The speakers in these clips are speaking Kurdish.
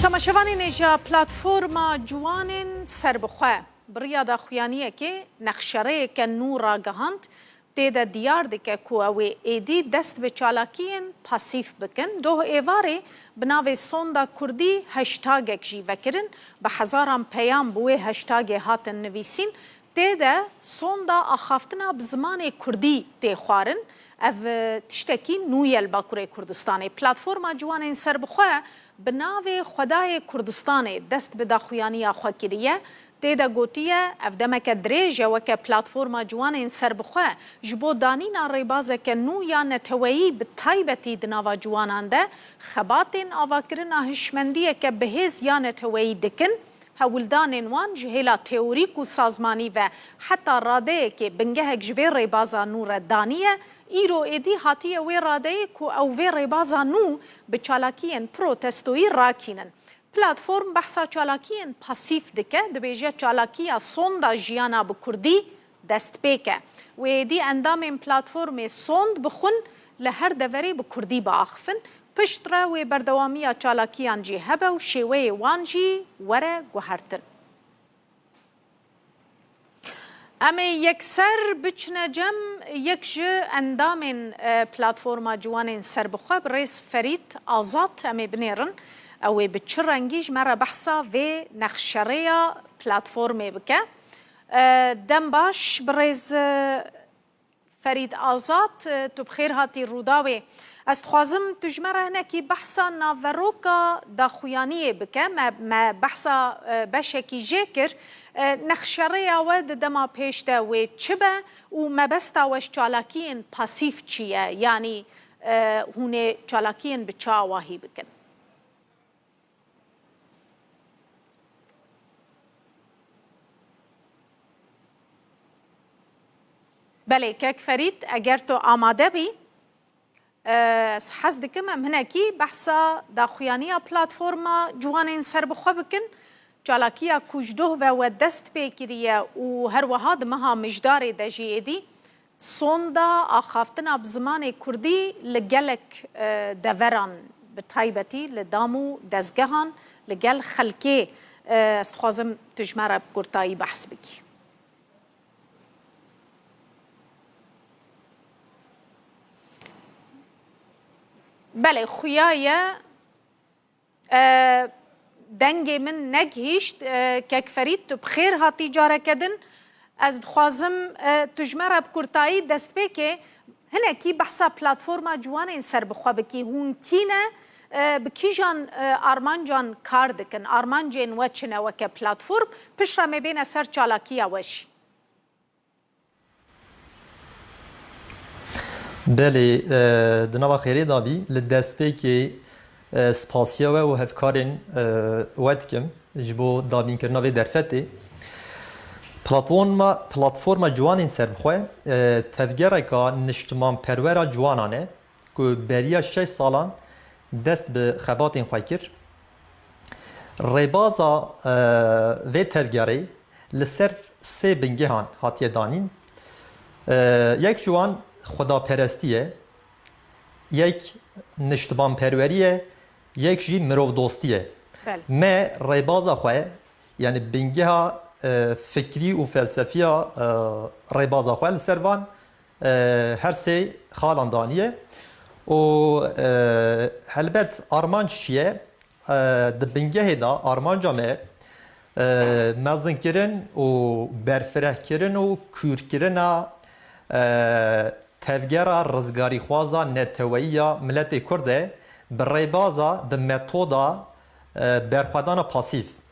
Temaşevanê nêja Platforma Ciwanên Serbixwe bi riya daxuyaniyekê nexşereyeke nû ragihand, tê de diyar dike ku ew ê êdî dest bi çalakiyên pasîf bikin. Doh êvarê bi navê Sonda Kurdî hashtagek jî vekirin, bi hezaran peyam bi wê hashtagê hatin nivîsîn, Tê de sonda axaftina bi zimanê kurdî tê xwarin, ev tiştekî nû ye li Bakurê Kurdistanê. Platforma Ciwanên Serbixwe bi navê Xwedayê Kurdistanê dest bi daxuyaniya xwe kiriye. Tê de gotiye, ev demeke dirêj e weke Platforma Ciwanên Serbixwe ji bo danîna rêbazeke nû ya neteweyî bi taybetî di nava ciwanan de xebatên avakirina hişmendiyeke bihêz ya neteweyî dikin Hewldanên wan ji hêla teorîk û sazmanî ve heta radeyekê bingehek ji vê rêbaza nû re daniye, îro êdî hatiye wê radeyê ku ew vê rêbaza nû bi çalakiyên protestoyî rakînin. Platform behsa çalakiyên pasîf dike, dibêje çalakiya Sonda Jiyana bi Kurdî Destpêke, wê êdî endamên platformê sond bixwin li her deverê bi kurdî biaxifin, pişt re wê berdewamiya çalakiyan jî hebe û şêweyê wan jî were guhertin. Em ê yekser biçine cem, yek ji endamên Platforma Ciwanên Serbixwe bi rêz Ferît Azad em ê binêrin, ew ê bi çi rengî ji me re behsa vê nexşerêya platformê bike. Dem baş birêz Ferîd Azad, tu bi xêr hatî Rûdawê. Ez dixwazim tu ji me re hinekî behsa naveroka daxuyaniyê bike. Me me behsa beşekî jê kir. Nexşerêya we di dema pêş de wê çi be û mebesta we ji çalakiyên pasîf çi ye? Yanî hûn ê çalakiyên bi çi awahî bikin? Belê kek Ferît eger tu amade bî ez hez dikim em hinekî behsa daxuyaniya platforma ciwanên serbixwe bikin. Çalakiya ku ji doh ve we dest pê kiriye û her wiha di meha mijdarê de jî êdî Sonda axaftina bi zimanê kurdî li gelek deveran bi taybetî li dam û dezgehan li gel xelkê ez dixwazim tu ji me re bi kurtayî behs bikî. Belê xuya ye. Dengê min negihîşt. Kek Ferîd tu bi xêr hatî careke din. Ez dixwazim tu ji me re bi kurtayî dest pê kê. Hinekî behsa platforma ciwanên serbixwe bikî. Hûn kî ne? Bi kîjan armancan kar dikin? Armancên we çi ne weke platform? Piştre me bêne ser çalakiya we jî. Belê, di nava xêrê de bî. Li destpêkê spasiya we û hevkarên we dikim ji bo dabînkirina vê derfetê. Platforma Platforma Ciwanên Sermixwe tevgereke niştimanperwer a ciwanan e ku beriya şeş salan dest bi xebatên xwe kir. Rêbaza vê tevgerê li ser sê bingehan hatiye danîn. Yek ji wan xwedaperestî ye, yek niştimanperwerî ye, yek jî mirovdostî ye. Me rêbaza xwe yanî bingeha fikrî û felsefiya rêbaza xwe li ser van Her sê xalan daniye û helbet armanc çi ye? Di bingehê de armanca me mezinkirin û berfirehkirin û kûrkirina tevgera rizgarîxwaza neteweyî ya miletê Kurd e bi rêbaza, bi metoda berxwedana pasîv.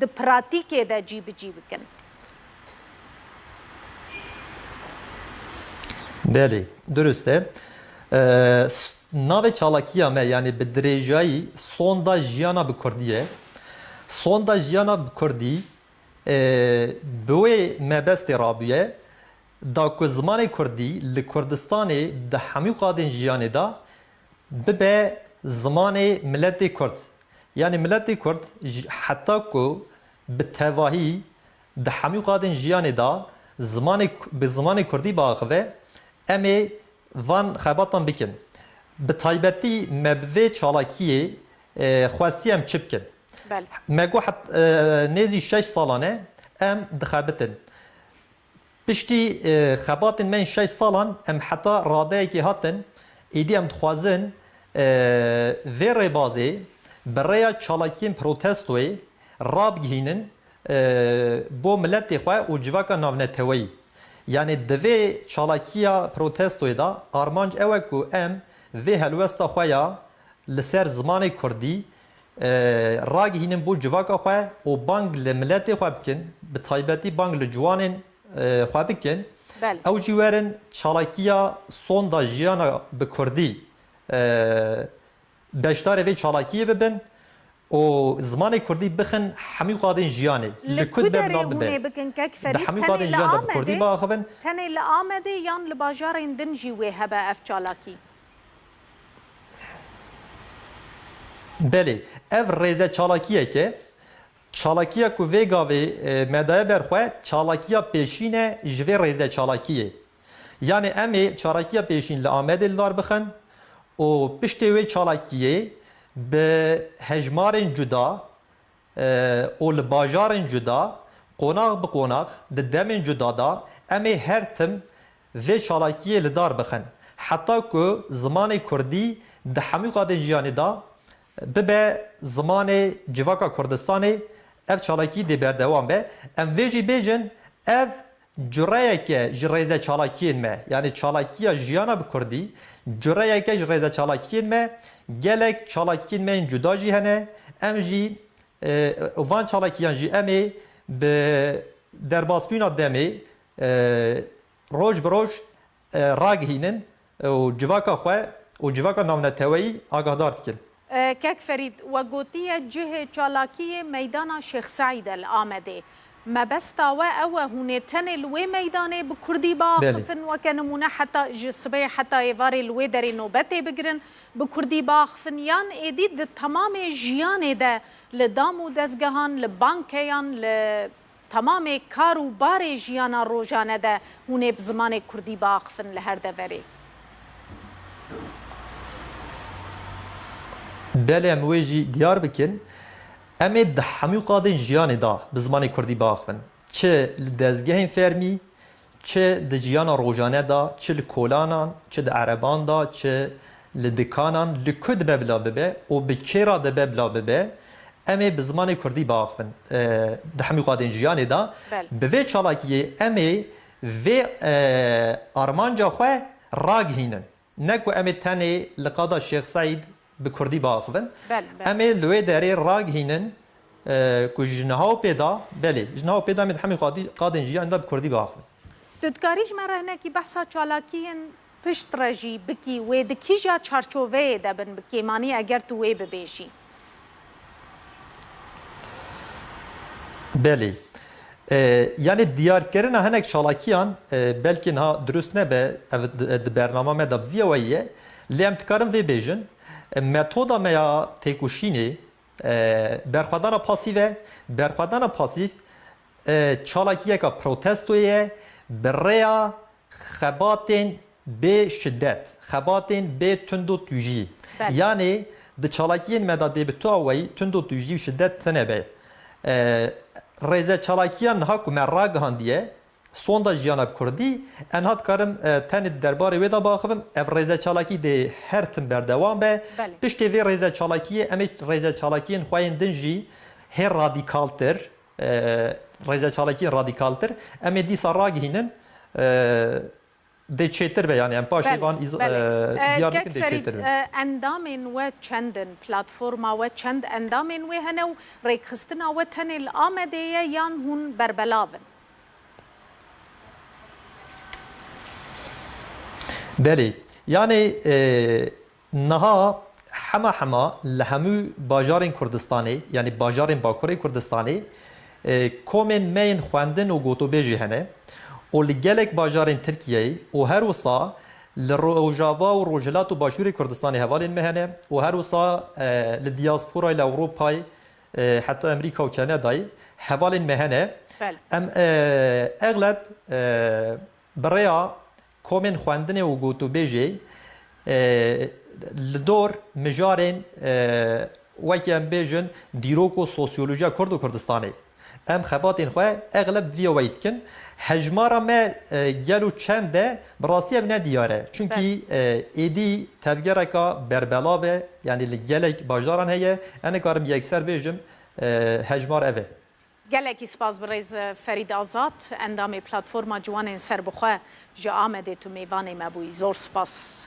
di pratîkê de cîbicî bikin. Belê, durist e. Navê çalakiya me yanî bi dirêjayî Sonda Jiyana bi Kurdî ye. Sonda Jiyana bi Kurdî bi wê mebestê rabûye da ku zimanê Kurdî li Kurdistanê di hemû qadên jiyanê de bibe zimanê miletê Kurd Yanî miletê kurd ji heta ku bi tevahî di hemû qadên jiyanê de zimanê bi zimanê kurdî biaxive, em ê van xebatan bikin. Bi taybetî me bi vê çalakiyê xwestiye em çi bikin. Me got nêzî şeş salan e em dixebitin. Piştî xebatên me yên şeş salan em heta radeyekê hatin, êdî em dixwazin vê rêbazê bi rêya çalakiyên protestoyê rabigihînin bo miletê xwe û civaka navneteweyî. Yanî di vê çalakiya protestoyê de armanc ew e ku em vê helwesta xwe ya li ser zimanê kurdî ragihînin bo civaka xwe û bang li miletê xwe bikin, bi taybetî bang li ciwanên xwe bikin, ew jî werin çalakiya Sonda Jiyana bi Kurdî beşdarê vê çalakiyê bibin û zimanê Kurdî bixin hemû qadên jiyanê. Li ku derê hûnê bikin kek Ferîd? Tenê li Amedê tenê li Amedê yan li bajarên din jî wê hebe ev çalakî? Belê, ev rêze çalakiyek e. Çalakiya ku vê gavê me daye ber xwe çalakiya pêşîn e ji vê rêze çalakiyê. Yanê em ê çalakiya pêşîn li Amedê li dar bixin û piştê wê çalakiyê bi hejmarên cuda û li bajarên cuda, qonax bi qonax, di demên cuda de em ê her tim vê çalakiyê li dar bixin heta ku zimanê kurdî di hemû qadên jiyanê de bibe zimanê civaka Kurdistanê, ev çalakî dê berdewam be. Em vê jî bêjin ev cureyek e ji rêze çalakiyên me, yanî çalakiya jiyana bi kurdî cureyek e ji rêze çalakiyên me, gelek çalakiyên me yên cuda jî hene, em jî û van çalakiyan jî em ê bi derbasbûna demê roj bi roj ragihînin û civaka xwe û civaka navneteweyî agahdar dikin. Kek Ferîd, We gotiye cihê çalakiyê meydana Şêx Seîd e li Amedê. Mebesta we ew e hûn ê tenê li wê meydanê bi kurdî biaxifin weke nimûne heta ji sibê heta êvarê li wê derê nobetê bigirin bi kurdî biaxifin yan êdî di temamê jiyanê de li dam û dezgehan, li bankeyan, li Temamê kar û barê jiyana rojane de hûn ê bi zimanê kurdî biaxivin li her deverê. Belê em wê jî diyar bikin. Em ê di hemû qadên jiyanê de bi zimanê kurdî biaxivin. Çi li dezgehên fermî, Çi di ciyana rojane de, çi li kolanan, çi di ereban de, çi li dikanan, li ku dibe bila bibe û bi kê re dibe bila bibe, em ê bi zimanê kurdî biaxivin. Di hemû qadên jiyanê de, bi vê çalakiyê em ê vê armanca xwe ragihînin. Ne ku em ê tenê li qada Şêx Seîd bi kurdî biaxivin, em ê li wê derê ragihînin ku ji niha û pê de, belê, ji niha û pê de em ê di hemû qadên jiyanê de bi kurdî biaxivin. Tu dikarî ji me re hinekî behsa çalakiyên piştre jî bikî, wê di kîja çarçoveyê de bin bi kêmanî eger tu wê bibêjî? Belê. Yanî diyarkirina hinek çalakiyan belkî niha dirust nebe, ev di bernama me de bi vî yewayî ye, lê em dikarin vê bêjin, metoda me ya têkoşînê berxwedana pasîv e, berxwedana pasîv çalakiyeke protestoyê ye, bi rêya Xebatên bê şidet, xebatên bê tundo tujî. Yanê di çalakiyên me de dê bi tu a weyî tundo tujî û şidet tine be. Rêze çalakiyan niha ku me ragihandiye, Sonda Jiyana Kurdî, enha dikarim tenê di derbarê wê de biaxivim, ev rêze çalakî dê her tim berdewam be. Piştê vê rêze çalakiyê em ê rêze çalakiyên xwe yên din jî hê radîkaltir, Rêze çalakiyên radîkaltir em ê dîsa ragihînin dê çêtir be yanî em paşê van diyar dikin dê çêtir be. Endamên we çend in? Platforma we çend endamên wê hene û rêkxistina we tenê li Amedê ye yan hûn berbelav in? Belê. Yanî Niha hema hema li hemû bajarên Kurdistanê yanî bajarên Bakurê Kurdistanê komên me yên xwendin û gotûbêj jî hene û li gelek bajarên Tirkiyeyê û her wisa li Rojava û Rojhilat û Başûrê Kurdistanê hevalên me hene û her wisa li diyasporayê li Ewropayê heta Amerîka û Kanadayê hevalên me hene. Em egleb bi rêya Komên xwendinê û gotûbêjê li dor mijarên wekî em bêjin dîrok û sosyolojiya Kurd û Kurdistanê. Em xebatên xwe egleb bi vî awayî dikin. Hejmara me gel û çend e bi rastî ev ne dîyar e. Çunkî êdî tevgereka berbelav e yanî li gelek bajdaran heye. Em nikarim yekser bêjim hejmar ev e. Gelekî spas bi rêz Ferîd Azad, endamê Platforma Ciwanên Serbixwe ji Amedê tu mêvanê me bûyî. Zor spas.